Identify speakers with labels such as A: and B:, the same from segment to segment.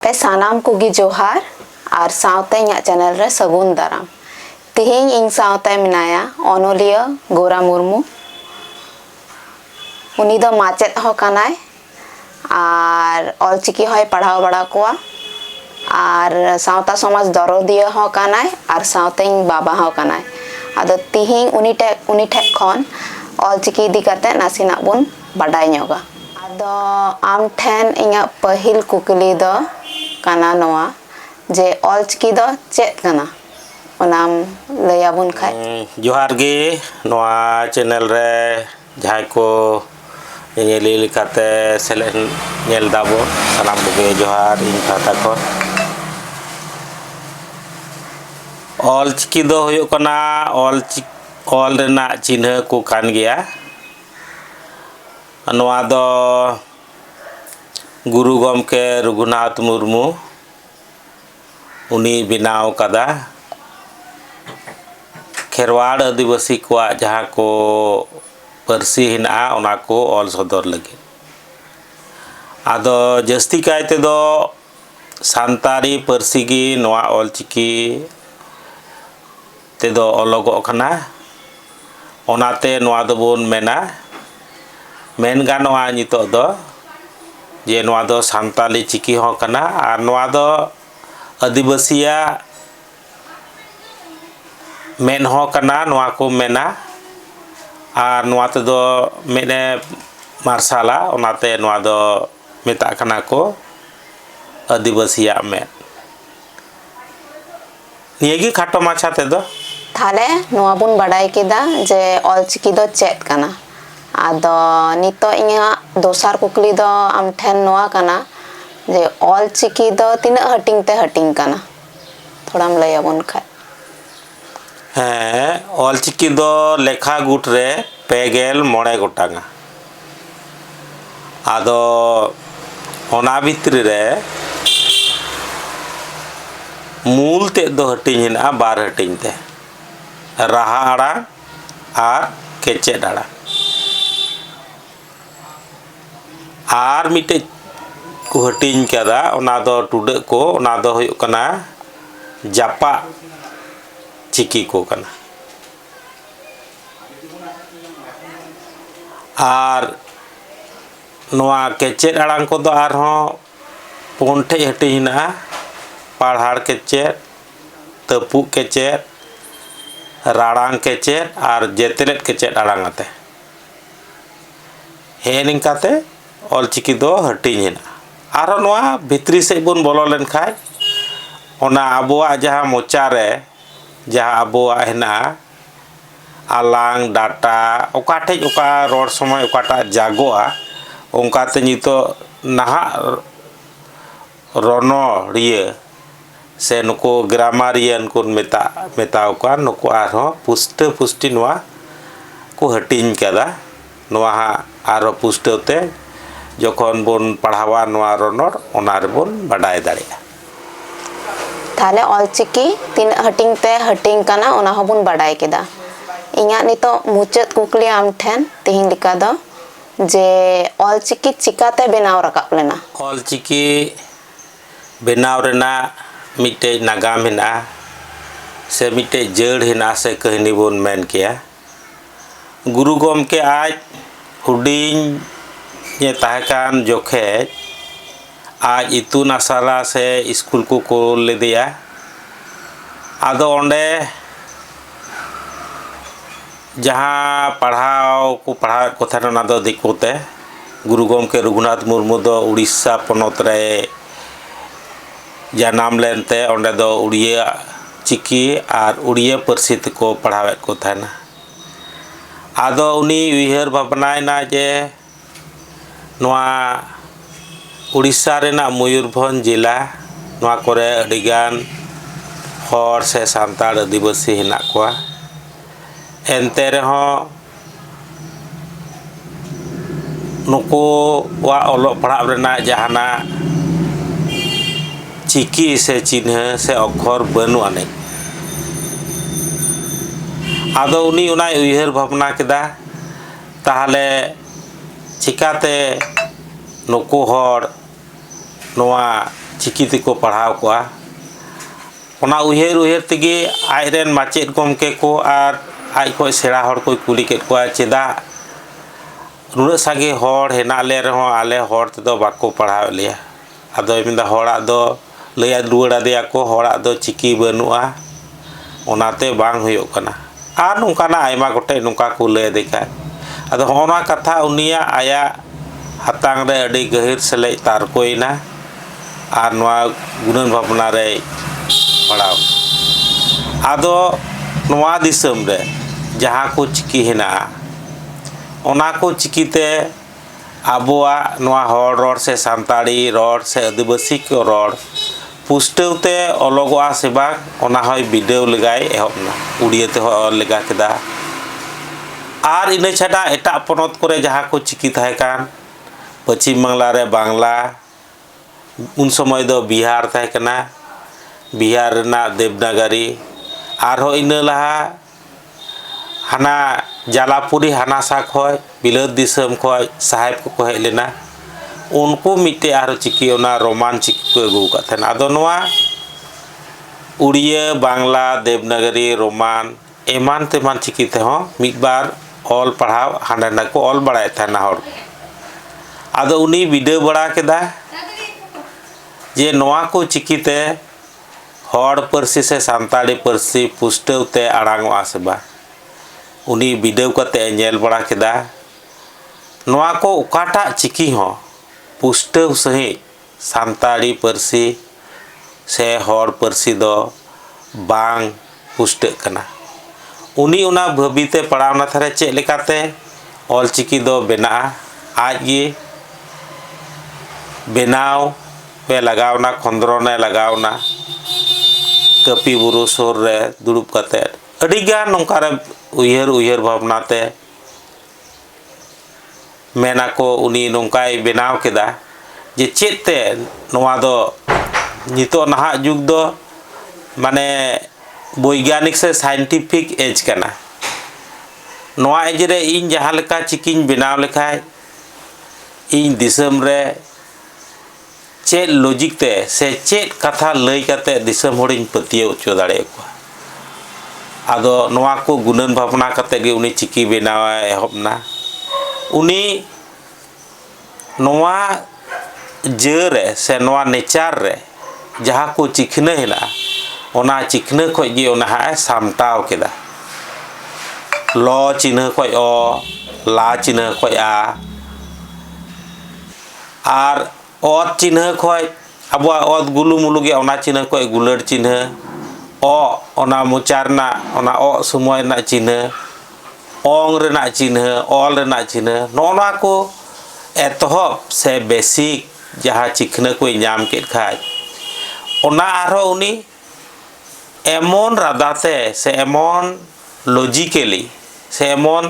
A: ᱯᱮ ᱥᱟᱱᱟᱢ ᱠᱚᱜᱮ ᱡᱚᱦᱟᱨ ᱟᱨ ᱥᱟᱶᱛᱮ ᱤᱧᱟᱹᱜ ᱪᱮᱱᱮᱞ ᱨᱮ ᱥᱟᱹᱜᱩᱱ ᱫᱟᱨᱟᱢ ᱛᱮᱦᱮᱧ ᱤᱧ ᱥᱟᱶᱛᱮ ᱢᱮᱱᱟᱭᱟ ᱚᱱᱚᱞᱤᱭᱟᱹ ᱜᱳᱨᱟ ᱢᱩᱨᱢᱩ ᱩᱱᱤ ᱫᱚ ᱢᱟᱪᱮᱫ ᱦᱚᱸ ᱠᱟᱱᱟᱭ ᱟᱨ ᱚᱞᱪᱤᱠᱤ ᱦᱚᱸᱭ ᱯᱟᱲᱦᱟᱣ ᱵᱟᱲᱟ ᱠᱚᱣᱟ ᱟᱨ ᱥᱟᱶᱛᱟ ᱥᱚᱢᱟᱡᱽ ᱫᱚᱨᱚᱫᱤᱭᱟᱹ ᱦᱚᱸ ᱠᱟᱱᱟᱭ ᱟᱨ ᱥᱟᱶᱛᱮ ᱤᱧ ᱵᱟᱵᱟ ᱦᱚᱸ ᱠᱟᱱᱟᱭ ᱟᱫᱚ ᱛᱮᱦᱮᱧ ᱩᱱᱤ ᱴᱷᱮᱡ ᱩᱱᱤ ᱴᱷᱮᱡ ᱠᱷᱚᱱ ᱚᱞᱪᱤᱠᱤ ᱤᱫᱤ ᱠᱟᱛᱮ ᱱᱟᱥᱮᱱᱟᱜ ᱵᱚᱱ ᱵᱟᱰᱟᱭ ᱧᱚᱜᱟ ᱟᱫᱚ ᱟᱢ ᱴᱷᱮᱱ ᱤᱧᱟᱹᱜ ᱯᱟᱹᱦᱤᱞ ᱠᱩᱠᱞᱤ ᱫᱚ ᱠᱟᱱᱟ ᱱᱚᱣᱟ ᱡᱮ ᱚᱞᱪᱤᱠᱤ ᱫᱚ ᱪᱮᱫ ᱠᱟᱱᱟ ᱚᱱᱟᱢ ᱞᱟᱹᱭ ᱟᱵᱚᱱ ᱠᱷᱟᱡ ᱡᱚᱦᱟᱨ ᱜᱮ ᱱᱚᱣᱟ ᱪᱮᱱᱮᱞ ᱨᱮ ᱡᱟᱦᱟᱸᱭ ᱠᱚ ᱧᱮᱧᱮᱞᱤᱭᱟᱹ ᱞᱮᱠᱟᱛᱮ ᱥᱮᱞᱮᱫ ᱧᱮᱞ ᱫᱟᱵᱚ ᱥᱟᱱᱟᱢ ᱠᱚᱜᱮ ᱡᱚᱦᱟᱨ ᱤᱧ ᱯᱟᱦᱴᱟ ᱠᱷᱚᱱ ᱚᱞᱪᱤᱠᱤ ᱫᱚ ᱦᱩᱭᱩᱜ ᱠᱟᱱᱟ ᱚᱞ ᱨᱮᱱᱟᱜ ᱪᱤᱱᱦᱟᱹ ᱠᱚ ᱠᱟᱱ ᱜᱮᱭᱟ ᱱᱚᱣᱟ ᱫᱚ ᱜᱩᱨᱩ ᱜᱚᱢᱠᱮ ᱨᱚᱜᱷᱩᱱᱟᱛᱷ ᱢᱩᱨᱢᱩ ᱩᱱᱤ ᱵᱮᱱᱟᱣ ᱠᱟᱫᱟ ᱠᱷᱮᱨᱣᱟᱲ ᱟᱹᱫᱤᱵᱟᱹᱥᱤ ᱠᱚᱣᱟᱜ ᱡᱟᱦᱟᱸ ᱠᱚ ᱯᱟᱹᱨᱥᱤ ᱦᱮᱱᱟᱜᱼᱟ ᱚᱱᱟ ᱠᱚ ᱚᱞ ᱥᱚᱫᱚᱨ ᱞᱟᱹᱜᱤᱫ ᱟᱫᱚ ᱡᱟᱹᱥᱛᱤ ᱠᱟᱭ ᱛᱮᱫᱚ ᱥᱟᱱᱛᱟᱲᱤ ᱯᱟᱹᱨᱥᱤ ᱜᱮ ᱱᱚᱣᱟ ᱚᱞᱪᱤᱠᱤ ᱛᱮᱫᱚ ᱚᱞᱚᱜᱚᱜ ᱠᱟᱱᱟ ᱚᱱᱟᱛᱮ ᱱᱚᱣᱟ ᱫᱚᱵᱚᱱ ᱢᱮᱱᱟ ᱢᱮᱱ ᱜᱟᱱᱚᱜᱼᱟ ᱱᱤᱛᱚᱜ ᱫᱚ ᱡᱮ ᱱᱚᱣᱟ ᱫᱚ ᱥᱟᱱᱛᱟᱞᱤ ᱪᱤᱠᱤ ᱦᱚᱸ ᱠᱟᱱᱟ ᱟᱨ ᱱᱚᱣᱟ ᱫᱚ ᱟᱹᱫᱤᱵᱟᱹᱥᱤᱭᱟᱜ ᱢᱮᱫ ᱦᱚᱸ ᱠᱟᱱᱟ ᱱᱚᱣᱟ ᱠᱚ ᱢᱮᱱᱟ ᱟᱨ ᱱᱚᱣᱟ ᱛᱮᱫᱚ ᱢᱮᱫᱼᱮ ᱢᱟᱨᱥᱟᱞᱟ ᱚᱱᱟᱛᱮ ᱱᱚᱣᱟ ᱫᱚ ᱢᱮᱛᱟᱜ ᱠᱟᱱᱟ ᱠᱚ ᱟᱹᱫᱤᱵᱟᱹᱥᱤᱭᱟᱜ ᱢᱮᱫ ᱱᱤᱭᱟᱹ ᱜᱮ ᱠᱷᱟᱴᱚ ᱢᱟᱪᱷᱟ ᱛᱮᱫᱚ ᱛᱟᱦᱞᱮ ᱱᱚᱣᱟ ᱵᱚᱱ ᱵᱟᱰᱟᱭ ᱠᱮᱫᱟ ᱡᱮ ᱚᱞᱪᱤᱠᱤ ᱫᱚ ᱪᱮᱫ ᱠᱟᱱᱟ ᱟᱫᱚ ᱱᱤᱛᱚᱜ ᱤᱧᱟᱹᱜ ᱫᱚᱥᱟᱨ ᱠᱩᱠᱞᱤ ᱫᱚ ᱟᱢ ᱴᱷᱮᱱ ᱱᱚᱣᱟ ᱠᱟᱱᱟ ᱡᱮ ᱚᱞᱪᱤᱠᱤ ᱫᱚ ᱛᱤᱱᱟᱹᱜ ᱦᱟᱹᱴᱤᱧ ᱛᱮ ᱦᱟᱹᱴᱤᱧ ᱠᱟᱱᱟ ᱛᱷᱚᱲᱟᱢ ᱞᱟᱹᱭ ᱟᱵᱚᱱ ᱠᱷᱟᱡ ᱦᱮᱸ ᱚᱞᱪᱤᱠᱤ ᱫᱚ ᱞᱮᱠᱷᱟ ᱜᱩᱴ ᱨᱮ ᱯᱮ ᱜᱮᱞ ᱢᱚᱬᱮ ᱜᱚᱴᱟᱝᱟ ᱟᱫᱚ ᱚᱱᱟ ᱵᱷᱤᱛᱨᱤ ᱨᱮ ᱢᱩᱞ ᱛᱮᱫ ᱫᱚ ᱦᱟᱹᱴᱤᱧ ᱦᱮᱱᱟᱜᱼᱟ ᱵᱟᱨ ᱦᱟᱹᱴᱤᱧ ᱛᱮ ᱨᱟᱦᱟ ᱟᱲᱟᱝ ᱟᱨ ᱠᱮᱪᱮᱫ ᱟᱲᱟᱝ ᱟᱨ ᱢᱤᱫᱴᱮᱡ ᱠᱚ ᱦᱟᱹᱴᱤᱧ ᱠᱟᱫᱟ ᱚᱱᱟ ᱫᱚ ᱴᱩᱰᱟᱹᱜ ᱠᱚ ᱚᱱᱟ ᱫᱚ ᱦᱩᱭᱩᱜ ᱠᱟᱱᱟ ᱡᱟᱯᱟᱜ ᱪᱤᱠᱤ ᱠᱚ ᱠᱟᱱᱟ ᱟᱨ ᱱᱚᱣᱟ ᱠᱮᱪᱮᱫ ᱟᱲᱟᱝ ᱠᱚᱫᱚ ᱟᱨᱦᱚᱸ ᱯᱩᱱ ᱴᱷᱮᱱ ᱦᱟᱹᱴᱤᱧ ᱦᱮᱱᱟᱜᱼᱟ ᱯᱟᱲᱦᱟᱲ ᱠᱮᱪᱮᱫ ᱛᱟᱹᱯᱩᱜ ᱠᱮᱪᱮᱫ ᱨᱟᱲᱟᱝ ᱠᱮᱪᱮᱫ ᱟᱨ ᱡᱮᱛᱨᱮᱛ ᱠᱮᱪᱮᱫ ᱟᱲᱟᱝ ᱟᱛᱮ ᱦᱮᱸᱜᱼᱮ ᱱᱤᱝᱠᱟ ᱛᱮ ᱚᱞ ᱪᱤᱠᱤ ᱫᱚ ᱦᱟᱹᱴᱤᱧ ᱦᱮᱱᱟᱜᱼᱟ ᱟᱨᱦᱚᱸ ᱱᱚᱣᱟ ᱵᱷᱤᱛᱨᱤ ᱥᱮᱫ ᱵᱚᱱ ᱵᱚᱞᱚ ᱞᱮᱱᱠᱷᱟᱱ ᱚᱱᱟ ᱟᱵᱚᱣᱟᱜ ᱡᱟᱦᱟᱸ ᱢᱚᱪᱟ ᱨᱮ ᱡᱟᱦᱟᱸ ᱟᱵᱚᱣᱟᱜ ᱦᱮᱱᱟᱜᱼᱟ ᱟᱞᱟᱝ ᱰᱟᱴᱟ ᱚᱠᱟ ᱴᱷᱮᱡ ᱚᱠᱟ ᱨᱚᱲ ᱥᱚᱢᱚᱭ ᱚᱠᱟᱴᱟᱜ ᱡᱟᱜᱚᱜᱼᱟ ᱚᱱᱠᱟᱛᱮ ᱱᱤᱛᱚᱜ ᱱᱟᱦᱟᱜ ᱨᱚᱱᱚᱲᱤᱭᱟᱹ ᱥᱮ ᱱᱩᱠᱩ ᱜᱨᱟᱢᱟᱨᱤᱭᱟᱹᱱ ᱠᱚ ᱢᱮᱛᱟᱜ ᱢᱮᱛᱟᱣ ᱠᱚᱣᱟ ᱱᱩᱠᱩ ᱟᱨᱦᱚᱸ ᱯᱩᱥᱴᱟᱹ ᱯᱩᱥᱴᱤ ᱱᱚᱣᱟ ᱠᱚ ᱦᱟᱹᱴᱤᱧ ᱠᱟᱫᱟ ᱱᱚᱣᱟ ᱦᱟᱸᱜ ᱟᱨᱚ ᱯᱩᱥᱴᱟᱹᱣ ᱛᱮ ᱡᱚᱠᱷᱚᱱ ᱵᱚᱱ ᱯᱟᱲᱦᱟᱣᱟ ᱱᱚᱣᱟ ᱨᱚᱱᱚᱲ ᱚᱱᱟ ᱨᱮᱵᱚᱱ ᱵᱟᱰᱟᱭ ᱫᱟᱲᱮᱭᱟᱜᱼᱟ ᱛᱟᱦᱞᱮ ᱚᱞᱪᱤᱠᱤ ᱛᱤᱱᱟᱹᱜ ᱦᱟᱹᱴᱤᱧ ᱛᱮ ᱦᱟᱹᱴᱤᱧ ᱠᱟᱱᱟ ᱚᱱᱟ ᱦᱚᱸᱵᱚᱱ ᱵᱟᱰᱟᱭ ᱠᱮᱫᱟ ᱤᱧᱟᱹᱜ ᱱᱤᱛᱚᱜ ᱢᱩᱪᱟᱹᱫ ᱠᱩᱠᱞᱤ ᱟᱢ ᱴᱷᱮᱱ ᱛᱤᱦᱤᱧ ᱞᱮᱠᱟ ᱫᱚ ᱡᱮ ᱚᱞᱪᱤᱠᱤ ᱪᱤᱠᱟᱛᱮ ᱵᱮᱱᱟᱣ ᱨᱟᱠᱟᱵ ᱞᱮᱱᱟ ᱚᱞᱪᱤᱠᱤ ᱵᱮᱱᱟᱣ ᱨᱮᱱᱟᱜ ᱢᱤᱫᱴᱮᱱ ᱱᱟᱜᱟᱢ ᱦᱮᱱᱟᱜᱼᱟ ᱥᱮ ᱢᱤᱫᱴᱮᱱ ᱡᱟᱹᱲ ᱦᱮᱱᱟᱜᱼᱟ ᱥᱮ ᱠᱟᱹᱦᱱᱤ ᱵᱚᱱ ᱢᱮᱱ ᱠᱮᱭᱟ ᱜᱩᱨᱩ ᱜᱚᱢᱠᱮ ᱟᱡ ᱦᱩᱰᱤᱧ ᱮ ᱛᱟᱦᱮᱸ ᱠᱟᱱ ᱡᱚᱠᱷᱮᱡ ᱟᱡ ᱤᱛᱩᱱ ᱟᱥᱲᱟ ᱥᱮ ᱤᱥᱠᱩᱞ ᱠᱚ ᱠᱳᱞ ᱞᱮᱫᱮᱭᱟ ᱟᱫᱚ ᱚᱸᱰᱮ ᱡᱟᱦᱟᱸ ᱯᱟᱲᱦᱟᱣ ᱠᱚ ᱯᱟᱲᱦᱟᱣᱮᱫ ᱠᱚ ᱛᱟᱦᱮᱱ ᱚᱱᱟ ᱫᱚ ᱫᱤᱠᱩ ᱛᱮ ᱜᱩᱨᱩ ᱜᱚᱢᱠᱮ ᱨᱚᱜᱷᱩᱱᱟᱛᱷ ᱢᱩᱨᱢᱩ ᱫᱚ ᱩᱲᱤᱥᱥᱟ ᱯᱚᱱᱚᱛ ᱨᱮ ᱡᱟᱱᱟᱢ ᱞᱮᱱᱛᱮ ᱚᱸᱰᱮ ᱫᱚ ᱩᱲᱤᱭᱟᱹ ᱪᱤᱠᱤ ᱟᱨ ᱩᱲᱤᱭᱟᱹ ᱯᱟᱹᱨᱥᱤ ᱛᱮᱠᱚ ᱯᱟᱲᱦᱟᱣᱮᱫ ᱠᱚ ᱛᱟᱦᱮᱱᱟ ᱟᱫᱚ ᱩᱱᱤ ᱩᱭᱦᱟᱹᱨ ᱵᱷᱟᱵᱽᱱᱟᱭᱮᱱᱟᱭ ᱡᱮ ᱱᱚᱣᱟ ᱩᱲᱤᱥᱥᱟ ᱨᱮᱱᱟᱜ ᱢᱚᱭᱩᱨᱵᱷᱚᱸᱡᱽ ᱡᱮᱞᱟ ᱱᱚᱣᱟ ᱠᱚᱨᱮ ᱟᱹᱰᱤ ᱜᱟᱱ ᱦᱚᱲ ᱥᱮ ᱥᱟᱱᱛᱟᱲ ᱟᱹᱫᱤᱵᱟᱹᱥᱤ ᱦᱮᱱᱟᱜ ᱠᱚᱣᱟ ᱮᱱᱛᱮ ᱨᱮᱦᱚᱸ ᱱᱩᱠᱩᱣᱟᱜ ᱚᱞᱚᱜ ᱯᱟᱲᱦᱟᱜ ᱨᱮᱱᱟᱜ ᱡᱟᱦᱟᱱᱟᱜ ᱪᱤᱠᱤ ᱥᱮ ᱪᱤᱱᱦᱟᱹ ᱥᱮ ᱚᱠᱠᱷᱚᱨ ᱵᱟᱹᱱᱩᱜ ᱟᱹᱱᱤᱡ ᱟᱫᱚ ᱩᱱᱤ ᱚᱱᱟᱭ ᱩᱭᱦᱟᱹᱨ ᱵᱷᱟᱵᱽᱱᱟ ᱠᱮᱫᱟ ᱛᱟᱦᱚᱞᱮ ᱪᱤᱠᱟᱹᱛᱮ ᱱᱩᱠᱩ ᱦᱚᱲ ᱱᱚᱣᱟ ᱪᱤᱠᱤ ᱛᱮᱠᱚ ᱯᱟᱲᱦᱟᱣ ᱠᱚᱣᱟ ᱚᱱᱟ ᱩᱭᱦᱟᱹᱨ ᱩᱭᱦᱟᱹᱨ ᱛᱮᱜᱮ ᱟᱡ ᱨᱮᱱ ᱢᱟᱪᱮᱫ ᱜᱚᱢᱠᱮ ᱠᱚ ᱟᱨ ᱟᱡ ᱠᱷᱚᱱ ᱥᱮᱬᱟ ᱦᱚᱲ ᱠᱚᱭ ᱠᱩᱞᱤ ᱠᱮᱫ ᱠᱚᱣᱟ ᱪᱮᱫᱟᱜ ᱱᱩᱱᱟᱹᱜ ᱥᱟᱸᱜᱮ ᱦᱚᱲ ᱦᱮᱱᱟᱜ ᱞᱮ ᱨᱮᱦᱚᱸ ᱟᱞᱮ ᱦᱚᱲ ᱛᱮᱫᱚ ᱵᱟᱠᱚ ᱯᱟᱲᱦᱟᱣᱮᱫ ᱞᱮᱭᱟ ᱟᱫᱚᱭ ᱢᱮᱱᱫᱟ ᱦᱚᱲᱟᱜ ᱫᱚ ᱞᱟᱹᱭ ᱨᱩᱣᱟᱹᱲ ᱟᱫᱮᱭᱟ ᱠᱚ ᱦᱚᱲᱟᱜ ᱫᱚ ᱪᱤᱠᱤ ᱵᱟᱹᱱᱩᱜᱼᱟ ᱚᱱᱟᱛᱮ ᱵᱟᱝ ᱦᱩᱭᱩᱜ ᱠᱟᱱᱟ ᱟᱨ ᱱᱚᱝᱠᱟᱱᱟᱜ ᱟᱭᱢᱟ ᱜᱚᱴᱮᱡ ᱱᱚᱝᱠᱟ ᱠᱚ ᱞᱟᱹᱭ ᱟᱫᱮ ᱠᱷᱟᱡ ᱟᱫᱚ ᱦᱚᱸᱜᱼᱚ ᱱᱚᱣᱟ ᱠᱟᱛᱷᱟ ᱩᱱᱤᱭᱟᱜ ᱟᱭᱟᱜ ᱦᱟᱛᱟᱝ ᱨᱮ ᱟᱹᱰᱤ ᱜᱟᱹᱦᱤᱨ ᱥᱟᱹᱦᱤᱡ ᱛᱟᱨᱠᱳᱭᱮᱱᱟ ᱟᱨ ᱱᱚᱣᱟ ᱜᱩᱱᱟᱹᱱ ᱵᱷᱟᱵᱽᱱᱟ ᱨᱮᱭ ᱯᱟᱲᱟᱣ ᱮᱱᱟ ᱟᱫᱚ ᱱᱚᱣᱟ ᱫᱤᱥᱚᱢ ᱨᱮ ᱡᱟᱦᱟᱸ ᱠᱚ ᱪᱤᱠᱤ ᱦᱮᱱᱟᱜᱼᱟ ᱚᱱᱟ ᱠᱚ ᱪᱤᱠᱤᱛᱮ ᱟᱵᱚᱣᱟᱜ ᱱᱚᱣᱟ ᱦᱚᱲ ᱨᱚᱲ ᱥᱮ ᱥᱟᱱᱛᱟᱲᱤ ᱨᱚᱲ ᱥᱮ ᱟᱹᱫᱤᱵᱟᱹᱥᱤ ᱠᱚ ᱨᱚᱲ ᱯᱩᱥᱴᱟᱹᱣ ᱛᱮ ᱚᱞᱚᱜᱚᱜᱼᱟ ᱥᱮ ᱵᱟᱝ ᱚᱱᱟ ᱦᱚᱸᱭ ᱵᱤᱰᱟᱹᱣ ᱞᱮᱜᱟᱭ ᱮᱦᱚᱵ ᱮᱱᱟ ᱩᱲᱤᱭᱟᱹ ᱛᱮᱦᱚᱸᱭ ᱚᱞ ᱞᱮᱜᱟ ᱠᱮᱫᱟ ᱟᱨ ᱤᱱᱟᱹ ᱪᱷᱟᱰᱟ ᱮᱴᱟᱜ ᱯᱚᱱᱚᱛ ᱠᱚᱨᱮ ᱡᱟᱦᱟᱸ ᱠᱚ ᱪᱤᱠᱤ ᱛᱟᱦᱮᱸ ᱠᱟᱱ ᱯᱚᱪᱷᱤᱢ ᱵᱟᱝᱞᱟ ᱨᱮ ᱵᱟᱝᱞᱟ ᱩᱱ ᱥᱚᱢᱚᱭ ᱫᱚ ᱵᱤᱦᱟᱨ ᱛᱟᱦᱮᱸ ᱠᱟᱱᱟ ᱵᱤᱦᱟᱨ ᱨᱮᱱᱟᱜ ᱫᱮᱵᱽᱱᱟᱜᱚᱨᱤ ᱟᱨᱦᱚᱸ ᱤᱱᱟᱹ ᱞᱟᱦᱟ ᱦᱟᱱᱟ ᱡᱟᱞᱟᱯᱩᱨᱤ ᱦᱟᱱᱟᱥᱟ ᱠᱷᱚᱱ ᱵᱤᱞᱟᱹᱛ ᱫᱤᱥᱚᱢ ᱠᱷᱚᱱ ᱥᱟᱦᱮᱵᱽ ᱠᱚᱠᱚ ᱦᱮᱡ ᱞᱮᱱᱟ ᱩᱱᱠᱩ ᱢᱤᱫᱴᱮᱱ ᱟᱨᱦᱚᱸ ᱪᱤᱠᱤ ᱚᱱᱟ ᱨᱳᱢᱟᱱ ᱪᱤᱠᱤ ᱠᱚ ᱟᱹᱜᱩ ᱟᱠᱟᱫ ᱛᱟᱦᱮᱱᱟ ᱟᱫᱚ ᱱᱚᱣᱟ ᱩᱲᱤᱭᱟᱹ ᱵᱟᱝᱞᱟ ᱫᱮᱵᱽᱱᱟᱜᱚᱨᱤ ᱨᱳᱢᱟᱱ ᱮᱢᱟᱱ ᱛᱮᱢᱟᱱ ᱪᱤᱠᱤ ᱛᱮᱦᱚᱸ ᱢᱤᱫ ᱵᱟᱨ ᱚᱞ ᱯᱟᱲᱦᱟᱣ ᱦᱟᱸᱰᱮ ᱱᱟᱰᱮ ᱠᱚ ᱚᱞ ᱵᱟᱲᱟᱭᱮᱫ ᱛᱟᱦᱮᱱᱟ ᱦᱚᱲ ᱠᱚ ᱟᱫᱚ ᱩᱱᱤᱭ ᱵᱤᱰᱟᱹᱣ ᱵᱟᱲᱟ ᱠᱮᱫᱟ ᱡᱮ ᱱᱚᱣᱟ ᱠᱚ ᱪᱤᱠᱤᱛᱮ ᱦᱚᱲ ᱯᱟᱹᱨᱥᱤ ᱥᱮ ᱥᱟᱱᱛᱟᱲᱤ ᱯᱟᱹᱨᱥᱤ ᱯᱩᱥᱴᱟᱹᱣ ᱛᱮ ᱟᱲᱟᱝᱚᱜᱼᱟ ᱥᱮ ᱵᱟᱝ ᱩᱱᱤ ᱵᱤᱰᱟᱹᱣ ᱠᱟᱛᱮ ᱮ ᱧᱮᱞ ᱵᱟᱲᱟ ᱠᱮᱫᱟ ᱱᱚᱣᱟ ᱠᱚ ᱚᱠᱟᱴᱟᱜ ᱪᱤᱠᱤ ᱦᱚᱸ ᱯᱩᱥᱴᱟᱹᱣ ᱥᱟᱺᱦᱤᱡ ᱥᱟᱱᱛᱟᱲᱤ ᱯᱟᱹᱨᱥᱤ ᱥᱮ ᱦᱚᱲ ᱯᱟᱹᱨᱥᱤ ᱫᱚ ᱵᱟᱝ ᱯᱩᱥᱴᱟᱹᱜ ᱠᱟᱱᱟ᱾ ᱩᱱᱤ ᱚᱱᱟ ᱵᱷᱟᱹᱵᱤᱛ ᱮ ᱯᱟᱲᱟᱣᱱᱟ ᱛᱟᱦᱞᱮ ᱪᱮᱫ ᱞᱮᱠᱟᱛᱮ ᱚᱞ ᱪᱤᱠᱤ ᱫᱚ ᱵᱮᱱᱟᱜᱼᱟ? ᱟᱡ ᱜᱮ ᱵᱮᱱᱟᱣ ᱮ ᱞᱟᱜᱟᱣᱱᱟ ᱠᱷᱚᱸᱫᱽᱨᱚᱱ ᱮ ᱞᱟᱜᱟᱣᱱᱟ ᱠᱟᱹᱯᱤ ᱵᱩᱨᱩ ᱥᱩᱨ ᱨᱮ ᱫᱩᱲᱩᱵ ᱠᱟᱛᱮ ᱟᱹᱰᱤᱜᱟᱱ ᱱᱚᱝᱠᱟᱱᱟᱜ ᱩᱭᱦᱟᱹᱨ ᱩᱭᱦᱟᱹᱨ ᱵᱷᱟᱵᱽᱱᱟ ᱛᱮ ᱢᱮᱱᱟᱠᱚ ᱩᱱᱤ ᱱᱚᱝᱠᱟᱭ ᱵᱮᱱᱟᱣ ᱠᱮᱫᱟ ᱡᱮ ᱪᱮᱫ ᱛᱮ ᱱᱚᱣᱟ ᱫᱚ ᱱᱤᱛᱚᱜ ᱱᱟᱦᱟᱜ ᱡᱩᱜᱽ ᱫᱚ ᱢᱟᱱᱮ ᱵᱳᱭᱜᱟᱱᱤᱠ ᱥᱮ ᱥᱟᱭᱮᱱᱴᱤᱯᱷᱤᱠ ᱮᱡᱽ ᱠᱟᱱᱟ ᱱᱚᱣᱟ ᱮᱡᱽ ᱨᱮ ᱤᱧ ᱡᱟᱦᱟᱸ ᱞᱮᱠᱟ ᱪᱤᱠᱤᱧ ᱵᱮᱱᱟᱣ ᱞᱮᱠᱷᱟᱱ ᱤᱧ ᱫᱤᱥᱚᱢ ᱨᱮ ᱪᱮᱫ ᱞᱚᱡᱤᱠ ᱛᱮ ᱥᱮ ᱪᱮᱫ ᱠᱟᱛᱷᱟ ᱞᱟᱹᱭ ᱠᱟᱛᱮ ᱫᱤᱥᱚᱢ ᱦᱚᱲᱤᱧ ᱯᱟᱹᱛᱭᱟᱹᱣ ᱚᱪᱚ ᱫᱟᱲᱮ ᱟᱠᱚᱣᱟ ᱟᱫᱚ ᱱᱚᱣᱟ ᱠᱚ ᱜᱩᱱᱟᱹᱱ ᱵᱷᱟᱵᱽᱱᱟ ᱠᱟᱛᱮ ᱜᱮ ᱩᱱᱤ ᱪᱤᱠᱤ ᱵᱮᱱᱟᱣ ᱮ ᱮᱦᱚᱵ ᱮᱱᱟ ᱩᱱᱤ ᱱᱚᱣᱟ ᱡᱟᱹ ᱨᱮ ᱥᱮ ᱱᱚᱣᱟ ᱱᱮᱪᱟᱨ ᱨᱮ ᱡᱟᱦᱟᱸ ᱠᱚ ᱪᱤᱠᱷᱱᱟᱹ ᱦᱮᱱᱟᱜᱼᱟ ᱚᱱᱟ ᱪᱤᱠᱷᱱᱟᱹ ᱠᱷᱚᱡ ᱜᱮ ᱚᱱᱟ ᱦᱟᱸᱜ ᱮ ᱥᱟᱢᱴᱟᱣ ᱠᱮᱫᱟ ᱞᱚ ᱪᱤᱱᱦᱟᱹ ᱠᱷᱚᱡ ᱚ ᱞᱟ ᱪᱤᱱᱦᱟᱹ ᱠᱷᱚᱡ ᱟ ᱟᱨ ᱚᱛ ᱪᱤᱱᱦᱟᱹ ᱠᱷᱚᱡ ᱟᱵᱚᱣᱟᱜ ᱚᱛ ᱜᱩᱞᱩ ᱢᱩᱞᱩ ᱜᱮᱭᱟ ᱚᱱᱟ ᱪᱤᱱᱦᱟᱹ ᱠᱷᱚᱡ ᱜᱩᱞᱟᱹᱴ ᱪᱤᱱᱦᱟᱹ ᱚᱜ ᱚᱱᱟ ᱢᱚᱪᱟ ᱨᱮᱱᱟᱜ ᱚᱱᱟ ᱚᱜ ᱥᱚᱢᱚᱭ ᱨᱮᱱᱟᱜ ᱪᱤᱱᱦᱟᱹ ᱚᱝ ᱨᱮᱱᱟᱜ ᱪᱤᱱᱦᱟᱹ ᱚᱞ ᱨᱮᱱᱟᱜ ᱪᱤᱱᱦᱟᱹ ᱱᱚᱜᱼᱚ ᱱᱚᱣᱟ ᱠᱚ ᱮᱛᱚᱦᱚᱵ ᱥᱮ ᱵᱮᱥᱤᱠ ᱡᱟᱦᱟᱸ ᱪᱤᱠᱷᱱᱟᱹ ᱠᱚᱭ ᱧᱟᱢ ᱠᱮᱫ ᱠᱷᱟᱡ ᱚᱱᱟ ᱟᱨᱦᱚᱸ ᱩᱱᱤ ᱮᱢᱚᱱ ᱨᱟᱫᱟᱛᱮ ᱥᱮ ᱮᱢᱚᱱ ᱞᱚᱡᱤᱠᱮᱞᱤ ᱥᱮ ᱮᱢᱚᱱ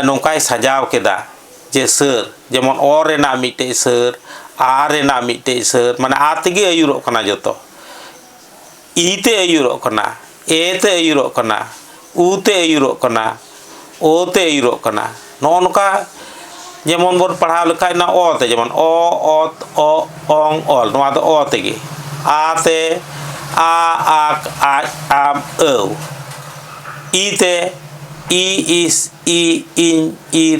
A: ᱱᱚᱝᱠᱟᱭ ᱥᱟᱡᱟᱣ ᱠᱮᱫᱟ ᱡᱮ ᱥᱟᱹᱨ ᱡᱮᱢᱚᱱ ᱚ ᱨᱮᱱᱟᱜ ᱢᱤᱫᱴᱮᱡ ᱥᱟᱹᱨ ᱟ ᱨᱮᱱᱟᱜ ᱢᱤᱫᱴᱮᱡ ᱥᱟᱹᱨ ᱢᱟᱱᱮ ᱟ ᱛᱮᱜᱮ ᱟᱹᱭᱩᱨᱚᱜ ᱠᱟᱱᱟ ᱡᱚᱛᱚ ᱤ ᱛᱮ ᱟᱹᱭᱩᱨᱚᱜ ᱠᱟᱱᱟ ᱮ ᱛᱮ ᱟᱹᱭᱩᱨᱚᱜ ᱠᱟᱱᱟ ᱩ ᱛᱮ ᱟᱹᱭᱩᱨᱚᱜ ᱠᱟᱱᱟ ᱳ ᱛᱮ ᱟᱹᱭᱩᱨᱚᱜ ᱠᱟᱱᱟ ᱱᱚᱜᱼᱚ ᱱᱚᱝᱠᱟ ᱡᱮᱢᱚᱱ ᱵᱚᱱ ᱯᱟᱲᱦᱟᱣ ᱞᱮᱠᱷᱟᱡ ᱚᱱᱟ ᱚ ᱛᱮ ᱡᱮᱢᱚᱱ ᱚ ᱚᱛ ᱚ ᱚᱝ ᱚᱞ ᱱᱚᱣᱟ ᱫᱚ ᱚ ᱛᱮᱜᱮ ᱟ ᱛᱮ ᱟ ᱟᱠ ᱟᱡ ᱟᱢ ᱟᱹᱣ ᱤ ᱛᱮ ᱤ ᱤᱥ ᱤ ᱤᱧ ᱤᱨ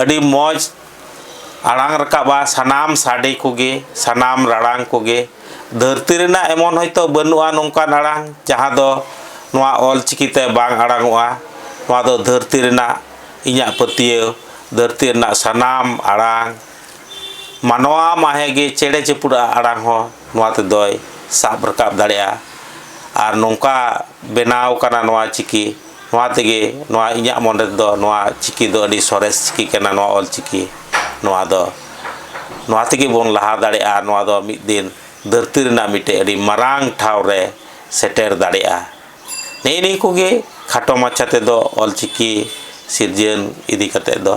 A: ᱟᱹᱰᱤ ᱢᱚᱡᱽ ᱟᱲᱟᱝ ᱨᱟᱠᱟᱵᱟ ᱥᱟᱱᱟᱢ ᱥᱟᱰᱮ ᱠᱚᱜᱮ ᱥᱟᱱᱟᱢ ᱨᱟᱲᱟᱝ ᱠᱚᱜᱮ ᱫᱷᱟᱹᱨᱛᱤ ᱨᱮᱱᱟᱜ ᱮᱢᱚᱱ ᱦᱚᱭᱛᱳ ᱵᱟᱹᱱᱩᱜᱼᱟ ᱱᱚᱝᱠᱟᱱ ᱟᱲᱟᱝ ᱡᱟᱦᱟᱸ ᱫᱚ ᱱᱚᱣᱟ ᱚᱞ ᱪᱤᱠᱤ ᱛᱮ ᱵᱟᱝ ᱟᱲᱟᱝᱚᱜᱼᱟ ᱱᱚᱣᱟ ᱫᱚ ᱫᱷᱟᱹᱨᱛᱤ ᱨᱮᱱᱟᱜ ᱤᱧᱟᱹᱜ ᱯᱟᱹᱛᱭᱟᱹᱣ ᱫᱷᱟᱹᱨᱛᱤ ᱨᱮᱱᱟᱜ ᱥᱟᱱᱟᱢ ᱟᱲᱟᱝ ᱢᱟᱱᱣᱟ ᱢᱟᱦᱮ ᱜᱮ ᱪᱮᱬᱮ ᱪᱤᱯᱨᱩᱫᱟᱜ ᱟᱲᱟᱝ ᱦᱚᱸ ᱱᱚᱣᱟ ᱛᱮᱫᱚᱭ ᱥᱟᱵ ᱨᱟᱠᱟᱵ ᱫᱟᱲᱮᱭᱟᱜᱼᱟ ᱟᱨ ᱱᱚᱝᱠᱟ ᱵᱮᱱᱟᱣ ᱠᱟᱱᱟ ᱱᱚᱣᱟ ᱪᱤᱠᱤ ᱱᱚᱣᱟ ᱛᱮᱜᱮ ᱱᱚᱣᱟ ᱤᱧᱟᱹᱜ ᱢᱚᱱᱮ ᱨᱮᱫᱚ ᱱᱚᱣᱟ ᱪᱤᱠᱤ ᱫᱚ ᱟᱹᱰᱤ ᱥᱚᱨᱮᱥ ᱪᱤᱠᱤ ᱠᱟᱱᱟ ᱱᱚᱣᱟ ᱚᱞ ᱪᱤᱠᱤ ᱱᱚᱣᱟ ᱫᱚ ᱱᱚᱣᱟ ᱛᱮᱜᱮ ᱵᱚᱱ ᱞᱟᱦᱟ ᱫᱟᱲᱮᱭᱟᱜᱼᱟ ᱱᱚᱣᱟ ᱫᱚ ᱢᱤᱫ ᱫᱤᱱ ᱫᱷᱟᱹᱨᱛᱤ ᱨᱮᱱᱟᱜ ᱢᱤᱫᱴᱮᱱ ᱟᱹᱰᱤ ᱢᱟᱨᱟᱝ ᱴᱷᱟᱶ ᱨᱮ ᱥᱮᱴᱮᱨ ᱫᱟᱲᱮᱭᱟᱜᱼᱟ ᱱᱮᱜᱼᱮ ᱱᱤᱭᱟᱹ ᱠᱚᱜᱮ ᱠᱷᱟᱴᱚ ᱢᱟᱪᱷᱟ ᱛᱮᱫᱚ ᱚᱞ ᱪᱤᱠᱤ ᱥᱤᱨᱡᱟᱹᱱ ᱤᱫᱤ ᱠᱟᱛᱮᱫ ᱫᱚ